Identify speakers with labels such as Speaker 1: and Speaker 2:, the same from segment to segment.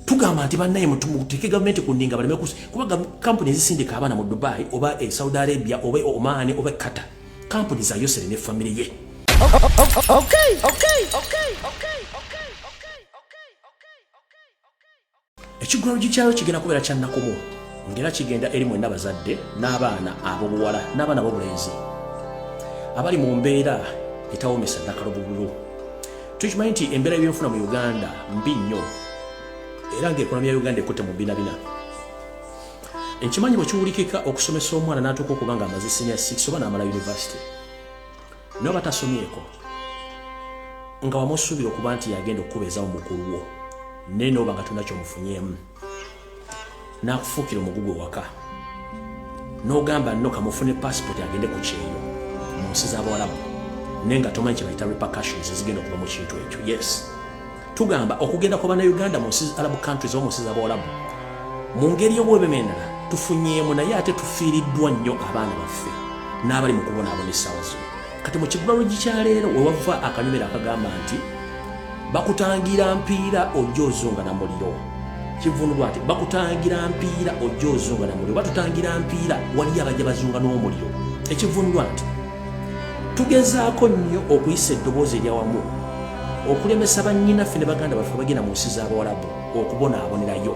Speaker 1: tugamba nti bannaye muteeke gavumenti ku ndinga baleme kusi kuba kampuni ezisindika abaana mu dubai oba e saudi arabia oba e oman oba e qatar kampuni za yosere ne famire ye ekigulalo gikyayo kigenda kubeera kyannakumu ngaera kigenda eri mwenna bazadde n'abaana abobuwala n'abaana bobulenzi abali mu mbeera etawomesa nakalobubulu tukimanyi nti embeera y'ebyenfuna mu uganda mbi nnyo era ngaekonomi ya uganda ekutte mu binabina nkimanyi bwekiwulikika okusomesa omwana natuuka okuba nga amaze senior 6 oba namala university naye oba tasomyeko nga wamusuubira okuba nti yagenda okukubeezawo mukulu wo naye nooba nga tolina kyomufunyeemu n'akufuukira omugugu ewaka n'ogamba nno kamufune passport agende ku kyeyo mu nsi z'abawalabu naye nga tomanyi kye bayita repercussions ezigenda okuva mu kintu ekyo yes tugamba okugenda kwa bannayuganda mu nsi arabu countries oba mu nsi z'abawalabu mu ngeri y'obwebemendala tufunyeemu naye ate tufiiriddwa nnyo abaana baffe n'abali mu kubonaabona essaawa zino kati mu kibulalogi kya leero wewava akanyumira akagamba nti bakutangira mpiira ojja ozunga na muliro kivunulwa nti bakutangira mpiira ojja ozunga na muliro batutangira mpiira waliyo abajja bazunga n'omuliro ekivunulwa nti tugezaako nnyo okuyisa eddoboozi eryawamu okulemesa bannyinaffe ne baganda baffe bagenda mu nsi z'abawalabu okubonaabonerayo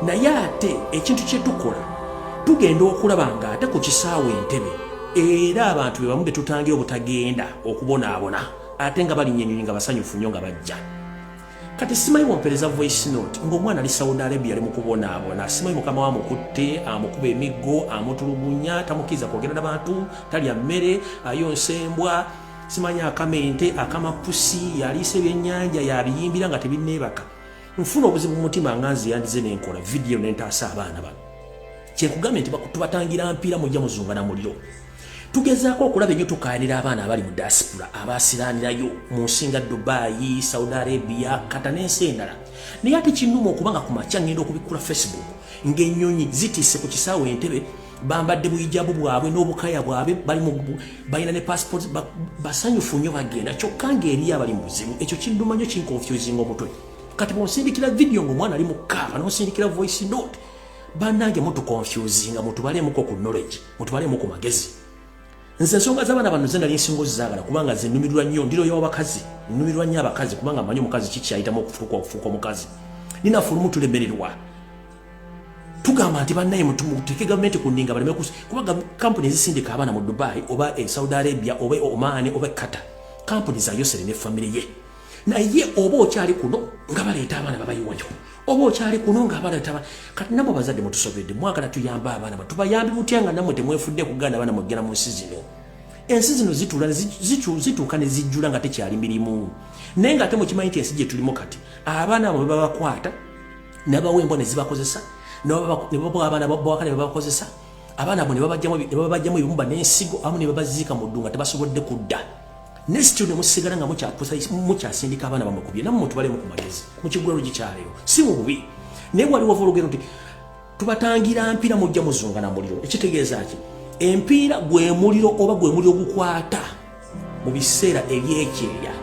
Speaker 1: naye ate ekintu kye tukola tugenda okulaba ng'ate ku kisaawa entebe era abantu be bamu be tutangira obutagenda okubonaabona ate nga balinya enyonyi nga basanyufu nnyo nga bajja kati simanyi wompereza voice note ng'omwana ali saudi arabia ali mukubonaabona simanyi mukama wa mukutte amukuba emiggo amutulugunya tamukiriza kwogera na bantu talya mmere ayonsa embwa simanyi akama ente akama pusi yaliisa ebyennyanja yabiyimbira nga tebinneebaka nfuna obuzibu mu mutima nga nze yandize nenkola vidiyo nentaasa abaana bano kyekugambye nti tubatangira mpiira mujja muzunga na muliro tugezaako okulaba enyo tukayanira abaana abali mu diaspora abasiranirayo mu nsinga dubayi saudi arabia kata n'ensi endala naye ate kinuma okubanga ku makya ngenda okubikkula facebook ng'enyonyi zitise ku kisaawe entebe bambadde buyijabu bwabwe n'obukaya bwabwe balina ne passport basanyufu nnyo bagenda kyokka ngaeriyo abali mubuzibu ekyo kinduma nnyo kinkonfusinga omutwe kati bwonsindikira vidiyo ngaomwana ali mukaaba nonsindikira voice note banange mutukonfusinga mutubalemuko ku knowledge mutubalemu ku magezi nze ensonga zabaana bano ze nali nsinga ozizagala kubanga ze numirwa nnyo ndiroyo abakazi numirwa nnyo abakazi kubanga manyi omukazi kikyayitamu okufuuka okufuuka omukazi ninafulumu tulemererwa tugamba nti bannaye muteeke gavumenti ku ndinga baleme kusi kuba kampuni ezisindika abaana mu dubai oba e saudi arabia oba e omaani oba ekata kampuni za yosere ne famire ye naye oba okyali kuno nga baleeta abaana babayiwayo oba okyali kuno nga abaana taba kati namwe abazadde mutusobedde mwagala tuyambe abaana ba tubayambi butya nga namwe temwefudde kuganda abaana mugenda mu nsi zino ensi zino zitula zituuka ne zijjula nga tekyali mirimu naye nga ate mukimanyi nti ensi gye tulimu kati abaana abo bebabakwata nabawa embwa nezibakozesa nebabawa abaana bawaka nebabakozesa abaana abo nebabajjamu ebibumba n'ensigo amu nebabaziika mu ddu nga tebasobodde kudda nesityo nemusigala nga mukyasindika abaana bamukubye namu mutubalemu ku magezi mukigulalu gikyaleero si mu bubi naye waliwo volugendo nti tubatangira mpira mujja muzunga na muliro ekitegeeza ki empiira gwe muliro oba gwe muliro gukwata mu biseera ebyekyeya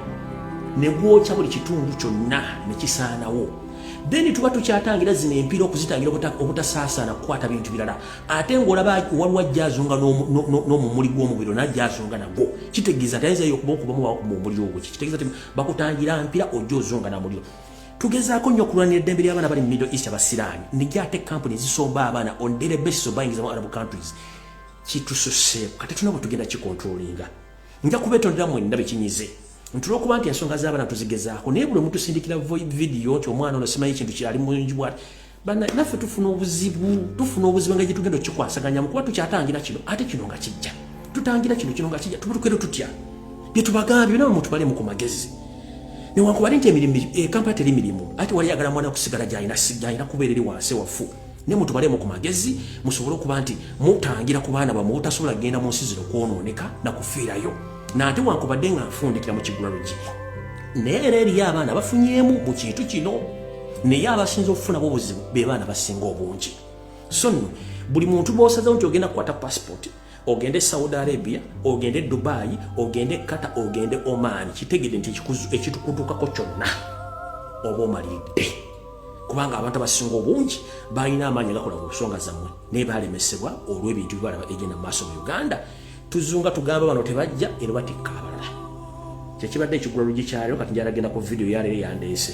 Speaker 1: ne gwokya buli kitundu kyonna ne kisaanawo then tuba tukyatangira zino empira okuzitangira obutasaasaana kukwata bintu birala ate ngaolaba waliwo ajja azunga n'omumuli gw'omubiri najja azunga nagwo kitegeeza tayinzayo okuba okubamu omuliro ogwo kitegeeza ti bakutangira mpira ojja ozunga na muliro tugezaako nnyo okulwanira eddembe ly'abaana bali mu middle east abasiraani nijja ate kampuni ezisomba abaana on daily basis obayingiza mu arab countries kitususeeko kati tulina bwe tugenda kikontrolinga nja kubetondera mwenna bekinyize nti olwokuba nti ensonga z'abaana tuzigezaako naye buli omutusindikira vidiyo nti omwana ono simanyi ekintu kyali mungi bwati naffe tufuna obuzibu tufuna obuzibu nga gyetugenda okikwasaganyamu kuba tukyatangira kino ate kino nga kijja tutangira kino kino nga kijja tubutukere tutya byetubagambye byona mutubalemu ku magezi newankubadde nti emirimu ekampala eh, teri mirimu ate wali yagala mwana kusigala gyalina kubeera eri wansi waffu ne mutubalemu ku magezi musobole okuba nti mutangira ku baana bamwe obutasobola kugenda mu nsi zino kwonooneka na kufiirayo nate wankubadde nga nfundikira mu kigula lugiko naye era eriyo abaana bafunyemu mu kintu kino naye abasinza okufunamu obuzibu be baana basinga obungi so nno buli muntu bwosazewo nti ogenda kukwata pasipooti ogende saudi arabia ogende dubai ogende kata ogende oman kitegede nti ekitukutukako kyonna oba omalidde kubanga abantu abasinga obungi balina amaanyi agakola ku nsonga zammwe naye balemesebwa olw'ebintu bibalaba egenda mu maaso mu uganda tuzunga tugamba bano tebajja era batikka abalala kyekibadde ekigula lugi kyalero kati njalagenda ku vidiyo yaleero yandeese